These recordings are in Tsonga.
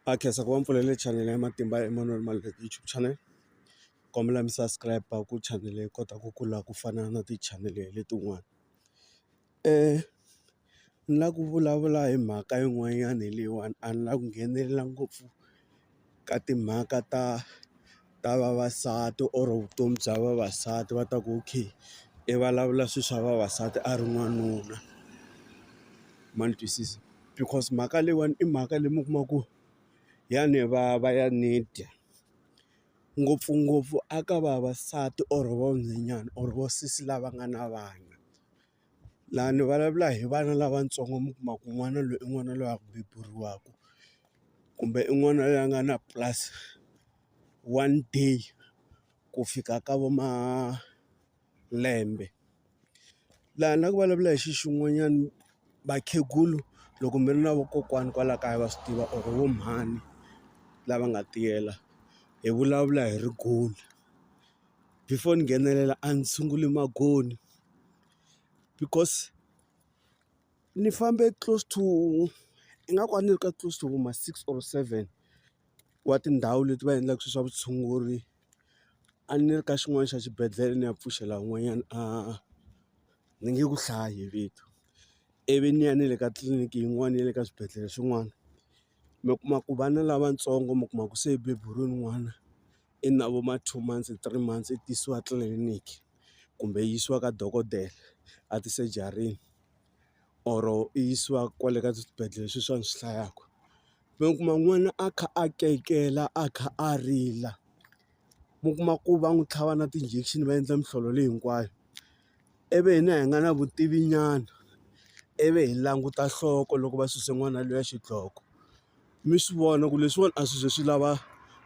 a khensa ku va mpfulele chanele ya matimba ya Emmanuel Maluleke YouTube channel kombela mi subscribe ku chanele yi kota ku kula ku fana na tichanele letin'wana ni lava ku vulavula hi mhaka yin'wanyana hi leyiwani a ni lava ku nghenelela ngopfu ka timhaka ta. ta vavasati or vutomi bya vavasati va ta ku okay i vulavula swilo swa vavasati a ri n'wanuna ma ni twisisa because mhaka leyiwani i mhaka leyi mi kuma ku ya ni vava ya ni dya ngopfungopfu a ka vavasati or vanhwanyana or vo sesi lava nga na vana. Laha ni vulavula hi vana lavatsongo mi kuma ku n'wana loyi i n'wana loyi a beburiwaka, kumbe i n'wana loyi a nga na plus one day ku fika ka vo malembe. Laha ni lava ku vulavula hi xona xin'wanyana, vakhegula loko mi ri na vakokwana kwala kaya va swi tiva or vo mhani lava nga tiyela, hi vulavula hi rigolo. before ni nghenelela a ni sunguli maghondzo because ni fambe close to ingaku a ni ri ka close to ma six or seven wa tindhawu leti va endlaka swilo swa vutshunguri a ni ri ka xin'wana xa xibedhlele ni ya pfuxela un'wanyana a ni nge ku hlayi vito ivi ni ya ni le ka tliliniki yin'wana ya le ka swibedhlele swin'wana mi kuma ku vana lavatsongo mi kuma ku se beburiwe n'wana. i na vo ma two months, three months i tisiwa tliliniki kumbe yi yisiwa ka dokodela a tisejarini or i yisiwa kwale ka swibedhlele swi swa ni swi hlayaka. Mi kuma n'wana a kha a kayikela a kha a rila, mi kuma ku va n'wi tlhava na ti-injection va endla mihlolo leyi hinkwayo. ivi hina hi nga na vutivi nyana ivi hi languta nhloko loko va suse n'wana luya xidloko mi swi vona ku leswiwani a swi ze swi lava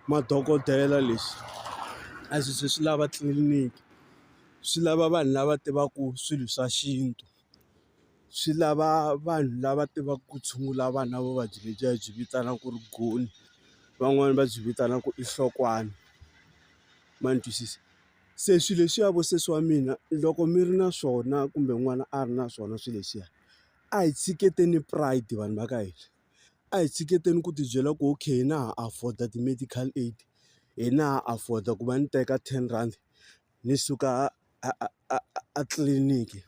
madokodela leswi a swi ze swi lava tliliniki swi lava vanhu lava tivaku swilo swa xintu swi lava vanhu lava tivaku ku tshungula vanhu na vuvabyi lebyiya hi byi vitanaka ku ri goni van'wani va byi vitanaka ku i nhlokwana ma ni twisisa. Se swilo leswiya vo sesi wa mina loko mi ri na swona kumbe n'wana a ri na swona swilo leswiya, a hi tshiketeni pride vanhu va ka hina. A hi tshiketeni ku ti byela ku okay na ha afford-a ti-medical aid, hina ha afford-a ku va ni teka ten rhandi ni suka a a a a a tliliniki.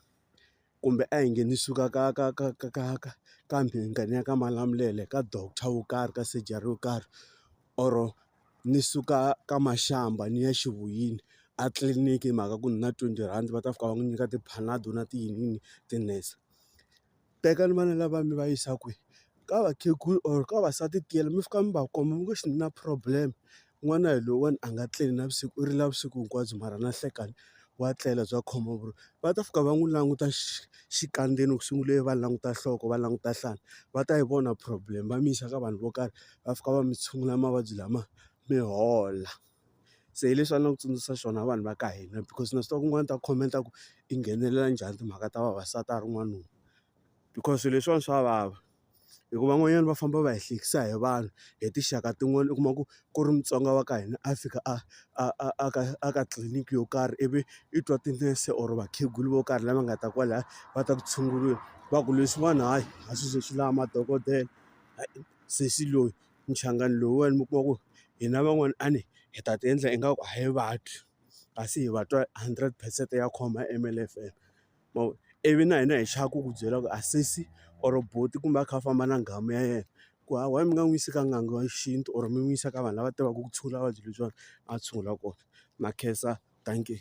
kumbe a hi nghenisiwi ka ka ka ka ka ka ka kambe hi nghena ka malamulele ka doctor wo karhi ka surgery yo karhi or ni suka ka mashamba ni ya xivoyini a tliliniki hi mhaka ku ni na twenty rhandi va ta fika va n'wi nyika ti-panado na tiyiniyini tinese tekani vana lava mi va yisa kwihi. ka vakhegula or ka vavasati tiyela mi fika mi va komba mi ngo xi na problem n'wana hi lowuwani a nga tleli navusiku u rila vusiku hinkwabyo mara na nhlekani wa tlela bya khoma vu ri va ta fika va n'wi languta xikandzeni ku sungule va languta nhloko va languta nhlana va ta yi vona problem va mi yisa ka vanhu vo karhi va fika va mi tshungula mavabyi lama mi hola se hi leswi a ni lava ku tsundzuxa swona vanhu va ka hina because na swi tiva ku un'wana u ta comment-a ku i nghenelela njhani timhaka ta vavasati a ri n'wanuna. because swilo leswiwani swa vava hikuva van'wanyana va famba va hi hlekisa hi vanhu hi tinxaka tin'wani u kuma ku ku ri Mutsonga wa ka hina a fika a a a a ka a ka tliliniki yo karhi ivi i twa tinese or vakhegula vo karhi lama nga ta kwalaya va ta ku tshunguriwa va ku leswiwani hayi a swi ze swi lava madokodela sesi loyi muchangani lowuwani mi kuma ku hina van'wani a ni hi ta ti endla ingaku a hi vabyi kasi hi va twa hundred percent ya khoma M_L_F_M. ma vo ivi na hina hi chava ku ku byela ku a sesi or buti kumbe a kha a famba na nghamu ya yena ku hayi why mi nga n'wi yisi ka n'anga wa xintu or mi n'wi yisa ka vanhu lava tivaka ku tshungula vuvabyi lebyiwani a tshungula kona na khensa dankie.